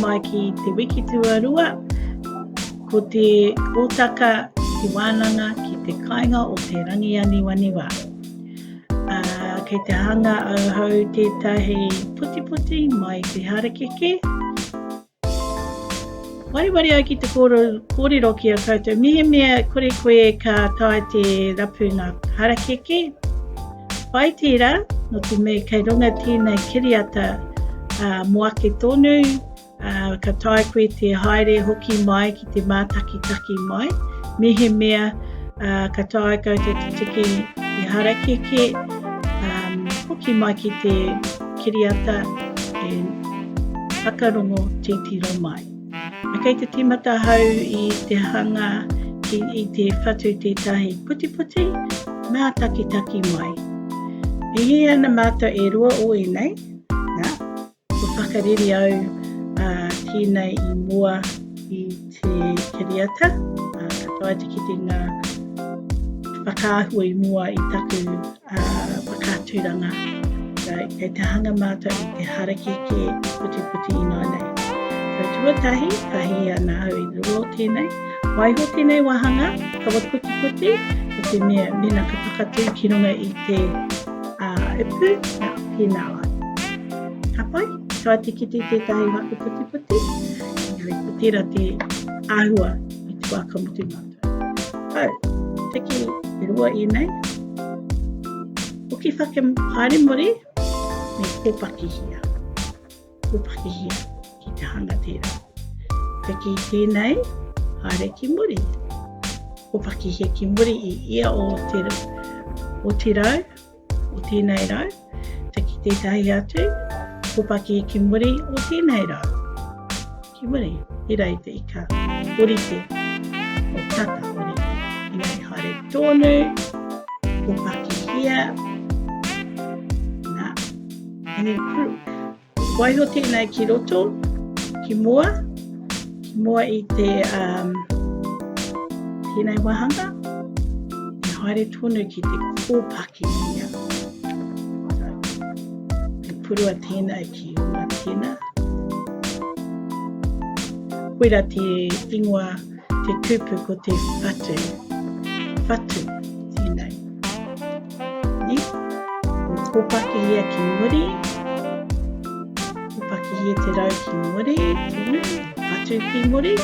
mai ki te wiki tuarua, ko te kōtaka te wānanga ki te kainga o te rangi aniwaniwa. Ā, kei te hanga auhau tētahi putiputi mai te harakeke. Wareware ai ki te kōrero ki a koutou, mehemea kore koe ka tae te rapu ngā harakeke. Pai tērā, nō te mea kei runga tēnei kiriata ā, mō ake tonu, Ka tae koe te haere hoki mai ki te mātakitaki mai, mehemea uh, ka tae koutou te tiki i harakeke, um, hoki mai ki te kiriata e whakarongo titiro mai. Kei te timata hau i te hanga ki, i te whatu tētahi putiputi, mātakitaki mai. E hē ana mātou e rua o ēnei, nā, Kua whakareri au ki nei i mua i te kiriata, katoa te kitenga whakaahua i mua i taku whakaaturanga. Kei te hanga mātou i te harakeke putiputi ināianei. So tuatahi, ka hihi ana au i riro o tēnei, waiho tēnei wāhanga kawa putiputi, ko te mea mēnā ka whakatū ki runga i te ipu, pēnā wai. Ka pai, ka tikiti tētahi mate putiputi, engari ko tērā te āhua i te wā ka mutu mātou. Hau, tiki e rua ēnei, hoki whake haere muri, me kōpakihia. Kōpakihia ki te hanga tērā. Tiki tēnei, haere ki muri. Kōpakihia ki muri i ia o te, o te rau, o tēnei rau, te ki tētahi atu, kopaki ki muri o tēnei rau. Ki muri, i rei te ika, orite, o tata orite. Inei haere tōnu, kopaki hia, na, any proof. Waiho tēnei ki roto, ki mua, ki mua i te um, tēnei wāhanga, i haere tonu ki te kōpaki ia. Te purua tēnei ki hua tēnā. Koira te ingoa, te kupu ko te whatu. Whatu. Kopakihia ki muri, kopakihia te rau ki muri, patu ki muri.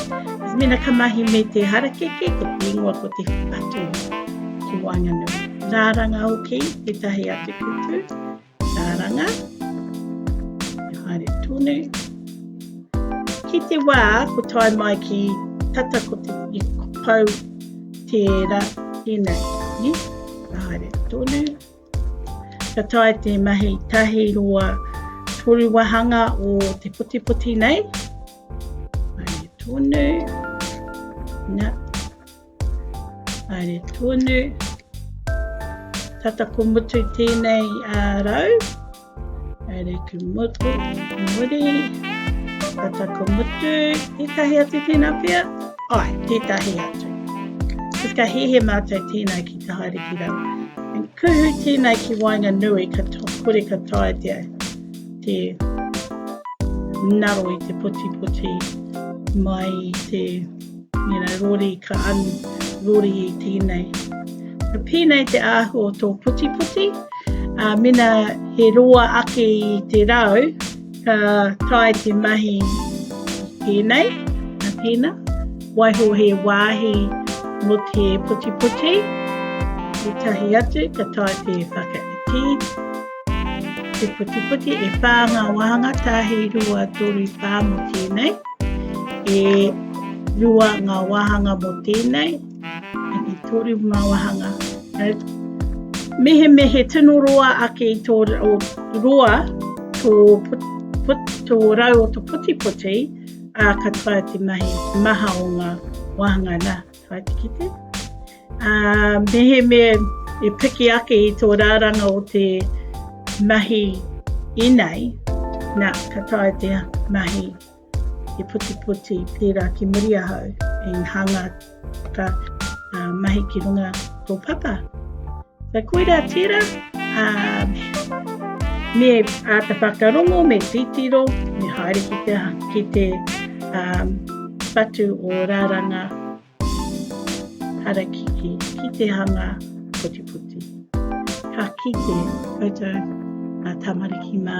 Mena ka mahi me te harakeke, ko te ingoa ko te patu ki waenganui. Rāranga hoki, tētahi atu kupu. Karanga, e haere tonu. Ki te wā, ko tae mai ki tata ko te i pau tēra tēnei, ni? Ka haere tonu. Ka tae te mahi tahi roa toru wahanga o te potipoti nei. Haere tonu. Nā, Haere tonu. Tata ko mutu tēnei a rau. Haere ki mutu, ki muri. Tata ko mutu. Tētahi atu tēnā pia? Ai, tētahi atu. Tis ka hehe mātou tēnei ki te haere ki rau. En kuhu tēnei ki wainga nui ka kore ka tae te, te naro i te poti poti mai te You know, rori ka anu, rori i tēnei. Ka pēnei te āhua o tō putiputi, ā, mena he roa ake i te rau, ka tae te mahi tēnei, a tēnā, waiho he wāhi mo te putiputi, i tahi atu, ka tae te whakaiti. Te putiputi e pā ngā wāhanga tāhi rua toru pā mo tēnei. E rua ngā wāhanga mo tēnei. E toru ngā wāhanga. Mehe mehe tino roa ake i tō roa tō tō rau o tō putiputi a katoa te mahi maha o ngā wāhanga nā. Whaitikite. Uh, mehemea e piki ake i tō rāranga o te mahi inei, nā, ka tae te mahi i putiputi pērā ki muri ahau, i hanga ka uh, mahi ki runga tō papa. Ka koira tērā, me āta whakarongo, me titiro, me haere ki te, ki te um, whatu o rāranga harakiki, ki te hanga putiputi. Ka kite koutou a tamariki mā.